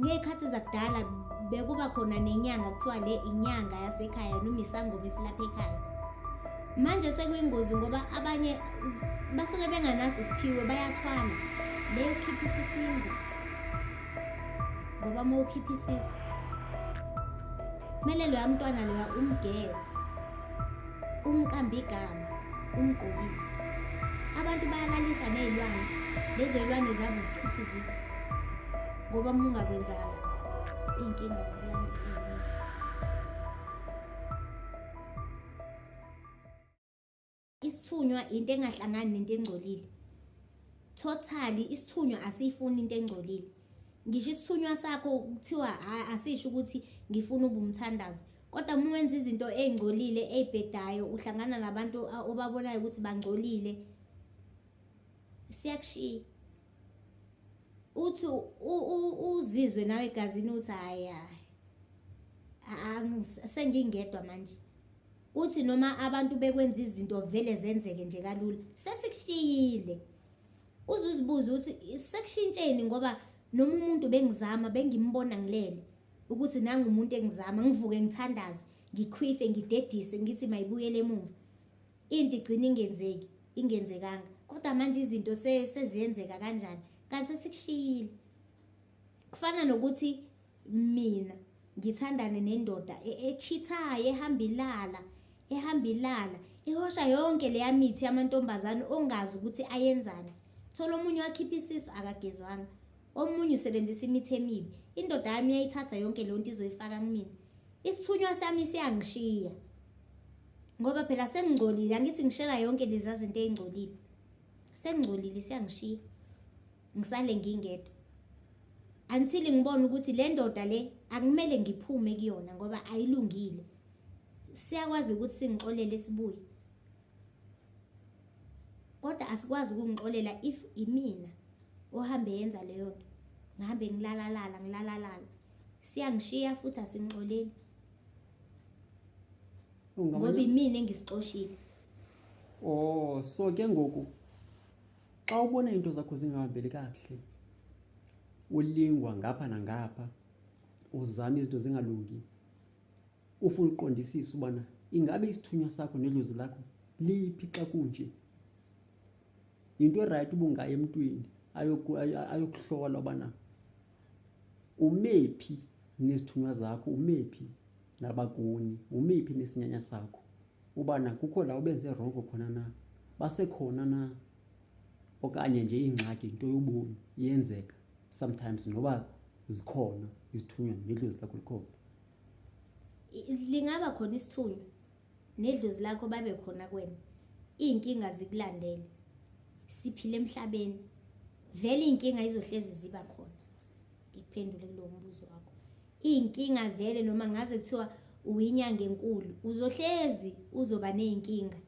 Ngey'khathi zakudala bekuba khona nenyanga kuthiwa le inyanga yasekhaya noma isangoma esilapha ekhaya manje sekuyingozi ngoba abanye basuke benganasi isiphiwe bayathwala leyo khipha isisu ingozi ngoba uma ukhipha isisu kumele loya mntwana loya umgeze umqambigama umgqokisa abantu bayalalisa ney'lwane lezo y'lwane zabo zichitha izizwe ngoba uma ungakwenzanga iy'nkinga zokulandela isithunywa into engahlangani nento engcolile totally isithunywa asiyifuni into engcolile ngisho isithunywa sakho kuthiwa asisho ukuthi ngifuna ubumthandazi kodwa uma wenza izinto ey'ngcolile ey'bhedayo uhlangana nabantu obabonayo ukuthi bangcolile siyakushiya uthi uzizwe nawe egazini uthi hhayi hhayi sengingedwa manje uthi noma abantu bekwenza izinto vele zenzeke nje kalula sesikushiyile uzuzibuze ukuthi sekushintsheni ngoba noma umuntu bengizama bengimbona ngilele ukuthi nangu umuntu engizama ngivuke ngithandaze ngikhwife ngidedise ngithi mayibuyele emuva into igcina ingenzeki ingenzekanga kodwa manje izinto seziyenzeka kanjani kanti sesikushiyile kufana nokuthi mina ngithandane nendoda e-, echithayo ehamba ilala ehamba ilala ihosha yonke leya mithi yamantombazane ongazi ukuthi ayenzani thola omunye wakhipha isisu akagezwanga Omunye usebenzisa imithi emibi. Indoda yami yayithatha yonke leyo nto izoyifaka kumina. Isithunywa sami siyangishiya. Ngoba phela sengingcolile, angithi ngishela yonke lezi zinto ezingcolile. Sengingcolile siyangishiya. Ngisale ngingedwa. Until ngibone ukuthi le ndoda le akumele ngiphume kuyona ngoba ayilungile. Siyakwazi ukuthi singixolele sibuye. kodwa asikwazi ukungixolela if imina ohambe yenza leyo nto ngihambe ngilalalala ngilalalala siyangishiya futhi asingixoleli ngoba imina engisixoshile oh so ke ngoku xa ubona iinto zakho zingahambeli kakuhle ulingwa ngapha nangapha uzama izinto zingalungi Ufuna ukuqondisisa ubana ingabe isithunywa sakho nedlozi lakho liphi xa kunje. Yinto erayithi ubungaya emntwini ayokuhlola ubana umephi nezithunywa zakho, umephi nabakuni, umephi nesinyanya sakho. Ubana kukho la ubenze rongo khona na, basekhona na okanye nje ingxaki yinto yobomi iyenzeka sometimes noba zikhona izithunywa nedlozi lakho likhona. lingaba khona isithunywa nedlozi lakho babe khona kwena iy'nkinga zikulandele siphile emhlabeni vele iy'nkinga izohlezi ziba khona ngikuphendule kulowo mbuzo wakho iy'nkinga vele noma ngaze kuthiwa uyinyanga enkulu uzohlezi uzoba ney'nkinga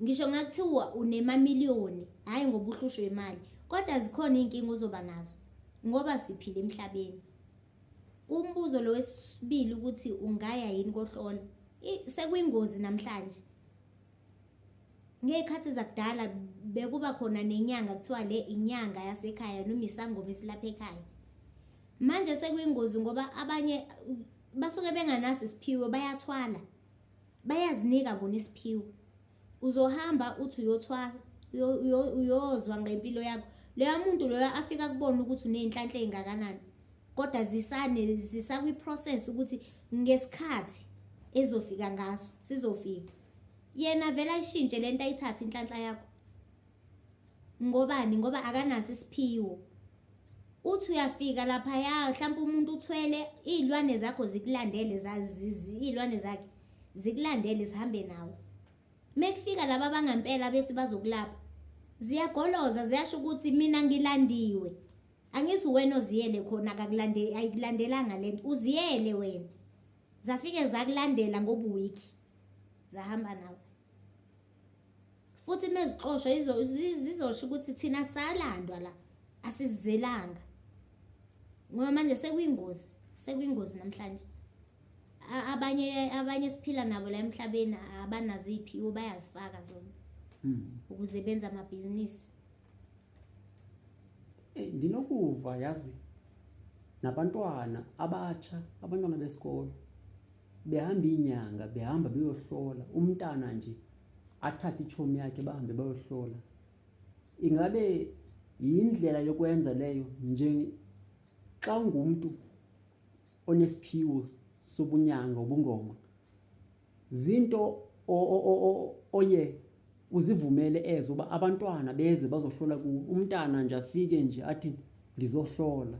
ngisho ngakuthiwa unemamiliyoni hhayi ngoba uhlushwe imali kodwa zikhona iy'nkinga ozoba nazo ngoba siphile emhlabeni Kumbuzo lo wesibili ukuthi ungaya yini kohlola. Sekuyingozi namhlanje. Ngey'khathi zakudala bekuba khona nenyanga kuthiwa le inyanga yasekhaya noma isangoma esilapha ekhaya. Manje sekuyingozi ngoba abanye basuke benganasi isiphiwo bayathwala. Bayazinika bona isiphiwo. uzohamba uthi uyothwasa uyo- uyo- uyozwa ngempilo yakho loya muntu loyo afika kubona ukuthi uney'nhlanhla ey'ngakanani kodwa zisane zisakwi-process ukuthi ngesikhathi ezofika ngaso sizofika yena vele ayishintshe le nto ayithathe inhlanhla yakho ngobani ngoba akanaso isiphiwo uthi uyafika lapha ya mhlawumbe umuntu uthwele iy'lwane zakho zikulandele iy'lwane zakhe zikulandele zihambe nawe uma kufika laba abangampela bethi bazokulapha ziyagoloza ziyasho ukuthi mina ngilandiwe angithi wena oziyele khona akakulande ayikulandelanga lento uziyele wena zafike zakulandela ngobuwiki zahamba nawe futhi mezixoshwa zizosho ukuthi thina salandwa la asizelanga ngoba manje sekwingozi sekwingozi namhlanje abanye abanye siphila nabo la emhlabeni abanazo iy'phiwo bayazifaka zona hmm. ukuze benze amabhizinisi Eyi ndinokuva yazi nabantwana abatsha abantwana besikolo behamba iinyanga behamba beyohlola umntana nje athathe itshomi yakhe bahambe bayohlola ingabe yindlela yokwenza leyo nje xa ungumntu onesiphiwo sobunyanga ubungoma Zinto oye uzivumele ezo uba abantwana beze bazohlola kuwe umntana nje afike nje athi ndizohlola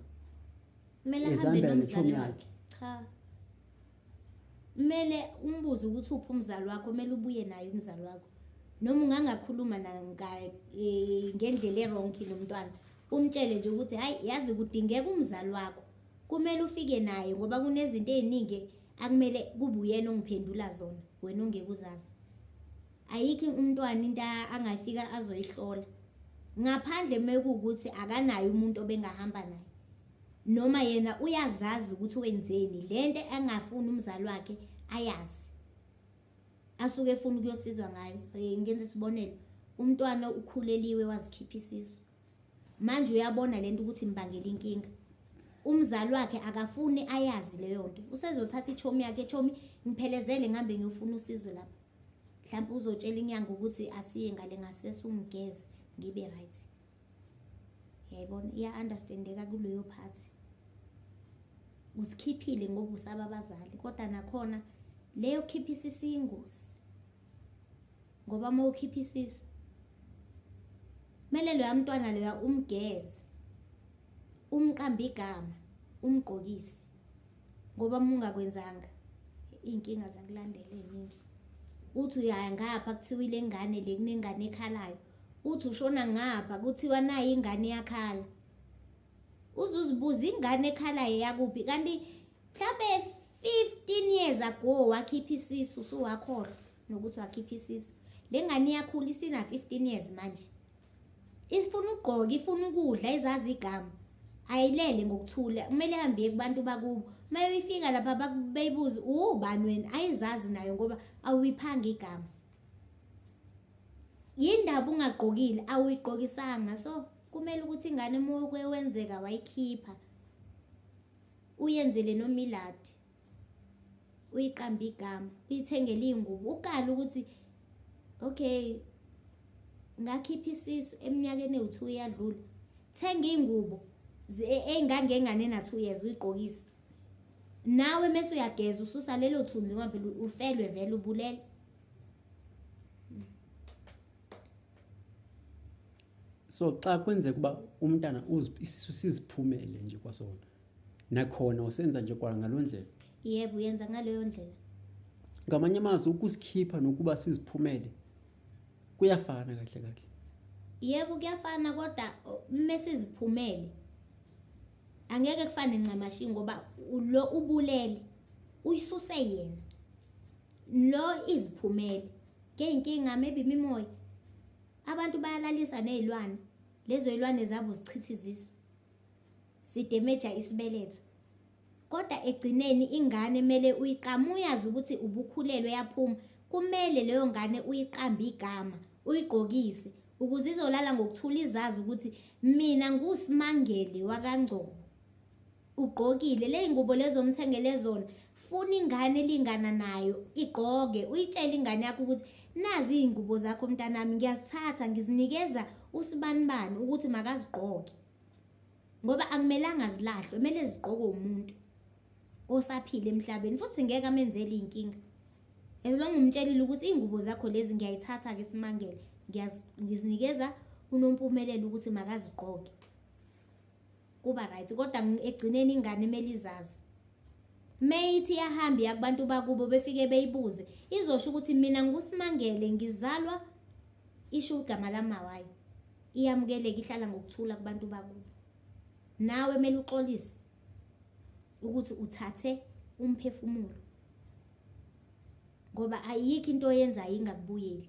kumele ahambe nomzali wakhe cha kumele umbuze ukuthi uphi umzali wakho kumele ubuye naye umzali wakho noma ungangakhuluma e, ngendlela eronki nomntwana umtshele nje ukuthi hhayi yazi kudingeka umzali wakho kumele ufike naye ngoba kunezinto ey'ningi akumele kube uyena ongiphendula zona wena ungeke uzazi ayikho umntwana into angafika azoyihlola ngaphandle mekuwukuthi akanaye umuntu obengahamba naye noma yena uyazazi ukuthi wenzeni lento engafuni umzali wakhe ayazi asuke efuna ukuyosizwa ngayo ngenza isibonelo umntwana ukhuleliwe wazikhipha isisu Manje uyabona lento ukuthi imbangela inkinga. Umzali wakhe akafuni ayazi leyo nto. Usezothatha ichomi yakhe, chomi ngiphelezele ngihambe ngiyofuna usizo lapha. Mhlawumbe uzotshela inyanga ukuthi asiye ngale ngasese ungigeze ngibe right. Yayibona iya understandeka kuleyo part. Usikhiphile ngoba usaba abazali kodwa nakhona leyo khiphisa isingozi. ngoba uma ukhipha isisu kumele loya mntwana loya umgeze umqambe igama umgqokise ngoba uma ungakwenzanga iy'nkinga zakulandela ey'ningi uthi uyaya ngapha kuthiwa ile ngane le kunengane ekhalayo uthi ushona ngapha kuthiwa nayo ingane yakhala uzuzibuza ingane ekhalayo yakuphi kanti mhlawumbe 15 years ago wakhipha isisu suwakhora nokuthi wakhipha isisu le ngane iyakhula isina 15 years manje ifuna ukugqoka ifuna ukudla izazi igama ayilele ngokuthula kumele hambe kubantu bakubo uma befika lapha bayibuze ubani wena ayizazi nayo ngoba awuyiphanga igama yindaba ungagqokile awuyigqokisanga so kumele ukuthi ingane uma kwenzeka wayikhipha Uyenzele nomiladi. Uyiqamba igama, uyithengele iy'ngubo. Ukala ukuthi okay ngakhipha isisu eminyakeni ewu-two yadlula. Thenga iy'ngubo e-, ey'ngangengane na-two years uyigqokise. Nawe mese uyageza ususa lelo thunzi ngoba phela ufelwe vele ubulele. so xa kwenzeka uba umntana isisu siziphumele nje kwasona nakhona usenza nje kwangaloo ndlela yebo uyenza ngaleyo ndlela ngamanye amazwi ukusikhipha nokuba siziphumele kuyafana kahle kahle yebo kuyafana kodwa uma siziphumele angeke kufane ncamashi ngoba lo ubulele uyisuse yena lo iziphumele ngeyinkinga maybe imimoya Abantu bayalalisa nezilwane. Lezo zilwane zabo zichitha izisu. Zidemeja isibeletho. Kodwa egcineni ingane mele uyiqama uyazi ukuthi ubukhulelwe yaphuma. Kumele leyo ngane uyiqambe igama, uyigqokise ukuze izolala ngokuthula izazi ukuthi mina nguSimangele wakangcobo. ugqokile ley'ngubo lezi omthengele zona funa ingane elingana nayo igqoke uyitshele ingane yakho ukuthi nazi iy'ngubo zakho mntanami ngiyazithatha ngizinikeza usibanibani ukuthi makazigqoke ngoba akumelanga zilahlwe kumele zigqokwe umuntu osaphila emhlabeni futhi ngeke amenzele iy'nkinga as long umtshelile ukuthi iy'ngubo zakho lezi ngiyayithatha-ke simangele ngizinikeza unompumelelo ukuthi makazigqoke kuba right kodwa egcineni ingane kumele izazi meyithi yahamba iya kubantu bakubo befike beyibuze izosho ukuthi mina ngusimangele ngizalwa isho igama lamawayo iyamukeleka ihlala ngokuthula kubantu bakubo nawe kumele uxolise ukuthi uthathe umphefumulo ngoba ayikho into oyenzayo ingakubuyeli